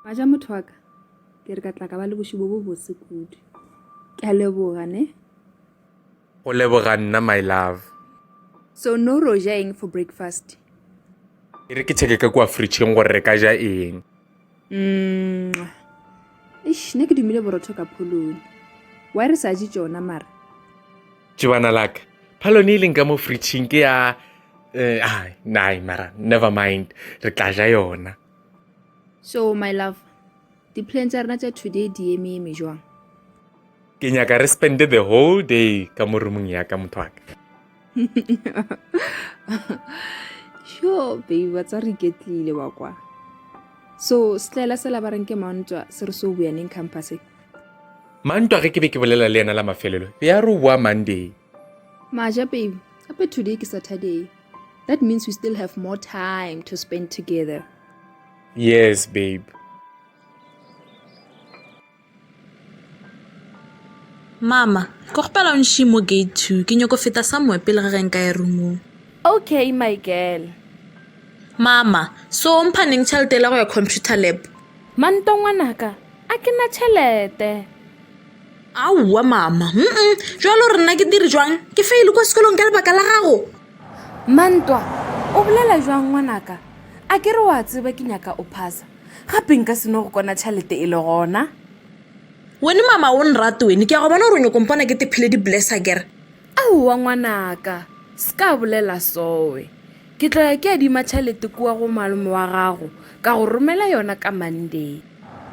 ba ja motho wa ka ke re ka tla ka ba le bošubo bo bose kudu ke a leboga ne go leboga nna my love so no ro ja eng for breakfast e re ke checke ka kua fridgeng gore re ka ja eng Eish, ne ke dumile borotho ka pholone wa re sa je tšona mara tšebana laka phalone e leng ka mo fritšhing ke ya eh, ah, nai mara never mind re tla ja yona so my love di-plan tša rena tša today di eme eme jwang ke nyaka re spende the whole day ka mo roomong yaka motho waka sure baby wa tsa re iketlile wa kwa so setlaela se labareng ke mantwa se re se o boyaneng campus mantwa ge ke be ke bolela le yena la mafelelo be ya re o boa monday maja baby gape today ke saturday that means we still have more time to spend together yes babe Mama, ke kgopela o nši mo gate two. Ke nyoko feta somewhere pele ga ge nka ya roomong. Okay, my girl. Mama, so o mpha neng tšhelete ela go ya computer lab? Manto ngwanaka, a ke na tšhelete. Aowa mama, mm-mm, jwale o re nna ke dire jwang? Ke faile kwa sekolong ka lebaka la gago? Mantwa, o bolela jwang ngwanaka? A ke re wa tseba ke nyaka o phasa. gape nka seno go kona tšhalete e le gona wene mama o nrate wene ke ya go bona gore o nyoko mpona ke tephile di-blessa kere aowa ngwanaka se ka bolela sowe ke tlo ya ke ya dima tšhalete kua go malome wa gago ka go romela yona ka monday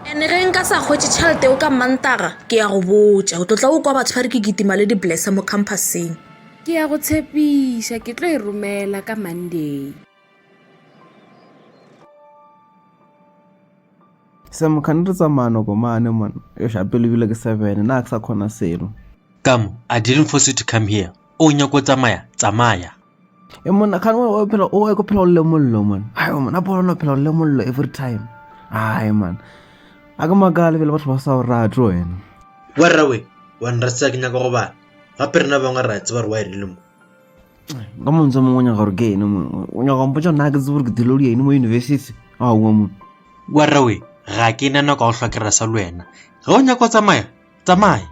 ene ge nka sa kgwetse tšhalete o ka mantaga ke ya go botša o tlo tla o kwa batho ba re ke kitima le di-blessa mo campuseng ke ya go tshepiša ke tlo e romela ka monday Sam, kgane re tsamaya noko mane man e sha pele bile ke seven na ke sa khona selo Kam, I didn't force you to come here. O nyako tsamaya, tsamaya. e monna kgane o o phela o e ko phela o le mollo man ayo man a bona no phela o le mollo every time ai man a ke makale bele batho ba sa o rate wena Wa rrawe, wa nrasisa ke nyaka go bala. Gape rena bangwe ra tseba gore wa e rile mo. ka montse mongwe o nyaka gore ke ene mongwe o nyaka mpotsa nna ke tsebore ke thelodia ene mo university a oa mone warrawe ga ke na nako ya go hlwakerera sa le wena ge o nyaka o tsamaya tsamaya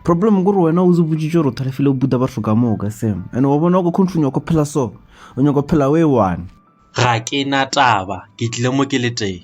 problem kore wena o zebotsitse gore o thalefile o buta batho ka moo ka sem and wa bona ko country nyako phela so o nyako phela o e one ga ke na taba ke tlile mo ke le teng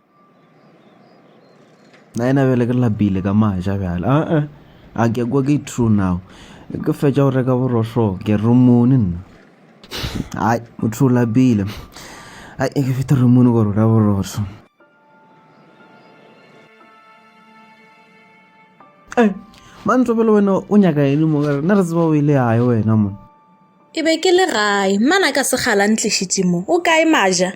na ena bjale ke lapile ka maja bjale a a a ke kwa ke true now ke fetša go reka borohlo ke romone nna ai motho o lapile ai ke feta romone go reka borohlo e mantso pele wena o nyaka ene mo kare na re tseba o ile yae wena mo ke be ke le gae mmana ka segala ntlišitše mo o kae maja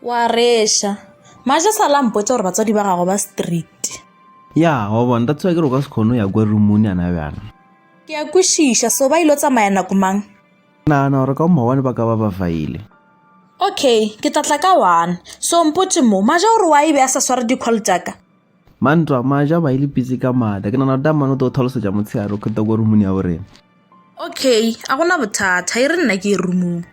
Wa reša. Maja sa la mpotša gore batswadi ba gago ba strict. Ya, wa bona, that's why ke re o ka se kgone ya kwa roomong yana bjana. Ke a kwešiša, so ba ilo tsamaya nako mang? Ke nagana gore ka maobane ba ka ba ba faile. Okay, ke tla tla ka one. So mpotše mo, Maja o re wa e be a sa sware di-call tša ka? Mantwa, Maja ba ile pitsi ka mada. Ke nagana gore Tamane o tlo go tlhalosetša motshegare o kgeta kwa roomong ya borena. Okay, a gona bothata, e re nna ke ye roomong.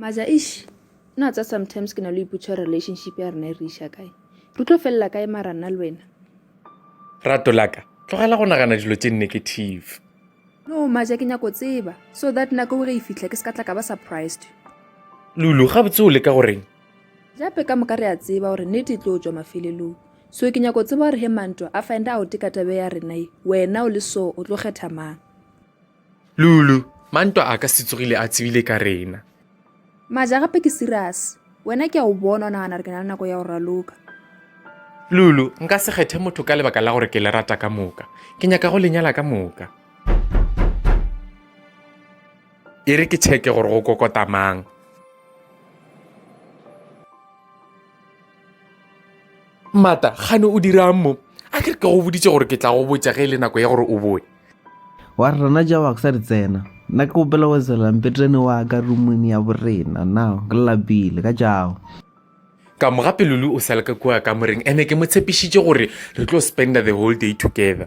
maza ish na tsa sometimes ke na le iputshwa relationship ya rena e re iša kae re tlo felela kae mara nna le wena rato laka tlogela go nagana dilo tse negative no maja ke nyako tseba so that nako o re e fitlha ke se ka tla ka ba surprised lulu gabotse o leka goreng Gape ka moka re a tseba gore nete e tlo tšwa mafelelong. So ke nyako tseba gore he mantwa a find out ka tabe ya rena ye, wena o le so o tlo kgetha mang? Lulu, Mantwa a ka se tsogile a tsebile ka rena. Maja, Gape ke serious. Wena ke a o bona o nagana gore ke na le nako ya go raloka. Lulu, Nka se kgethe motho ka lebaka la gore ke le rata ka moka. Ke nyaka go le nyala ka moka. e re ke tšheke gore go kokota mang mata gane o dirang mo a ke re ke go boditše gore ke tla go botša ge e le nako ya gore o boe wa re rena ja waksa di tsena nna ke gopela go tsela mpetrene wa ka rumone ya borena na ke lapile ka jago ka mo gape lulu o sale ka kua ka moreng ene ke mo tshepišitše gore re tlo spender the whole day together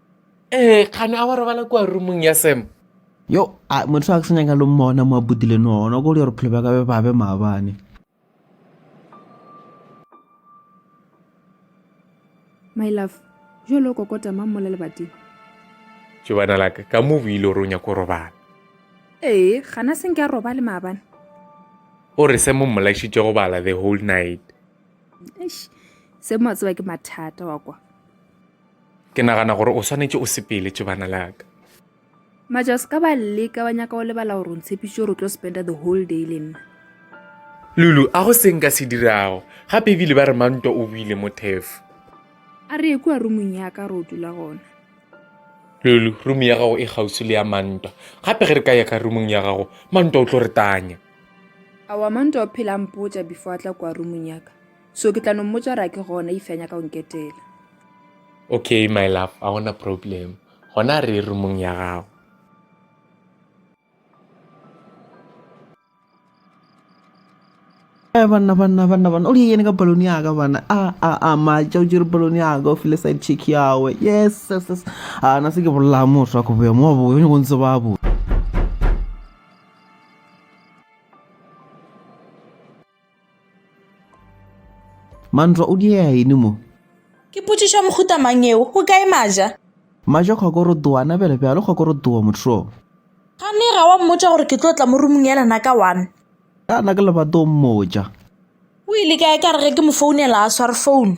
ee kgane a wa robala kua rumong ya sam yo a motho a ke senyaka lo mmona mo a bodile nona ko le gore phelo ba ka be ba be maabane my love jo le o kokota mang mola lebati jo bana laka ka mo buile gore o nyako go robala ee gana seng ke a roba le maabane o re se mo mmolaisitse go bala the whole night se mo a tseba ke mathata wa kwa Ke nagana gore o swanetše o sepele tšebana la ka. Maja, o se ka ba leka wa nyaka o lebala gore o ntshepišitše gore o tlo spenda the whole day le nna. Lulu, a go seng ka se dirago gape ebile ba re mantwa o buile mo thefo. A re ekua rumong ya ka re o dula gona. Lulu, rumo ya gago e gausi le ya mantwa gape ge re ka ya ka rumong ya gago mantwa o tlo re tanya. Awa mantwa o phela mpotša before a tla kua rumong ya ka. so ke tla no mmotsa gore a ke gona if a nyaka go nketela okay my love a gona problem gona re rumong ya gago Eh, banna banna banna banna o di yene ka balone yaka bana a a a matša o jere balone yaka o file side check yawe yes yes yes a na se ke bolela motho wa go boya mo wa boya o nyako ntse ba boya Mantlwa o diea ene mo? Ke potšišo ya mohuta mang yeo? Go kae Maja? Maja Kgokorotoa a nabela bjalo Kgokorotoa motho. Kganni ga wa mmotša gore ke tlo tla mo rumung ya lena ka one? Ka na ke lebato o mmotša. O ile kae ka re ge ke mo founela a sware founu?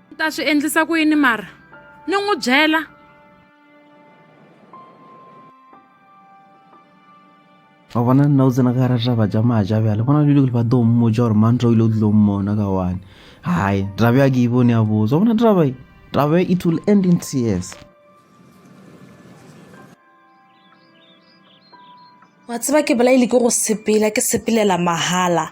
ni ta swi endlisa ku yini mara ni n'wi byela wa bona nna o tsena ka gara raba ja maja bjale bona dilo le ba tlo mmotsa gore mantra o ile o tlilo mmona ka one hai drabe ya ke e bone ya botsa bona drabe drabe it will end in tears wa tseba ke bolaile ke go sepela ke sepelela mahala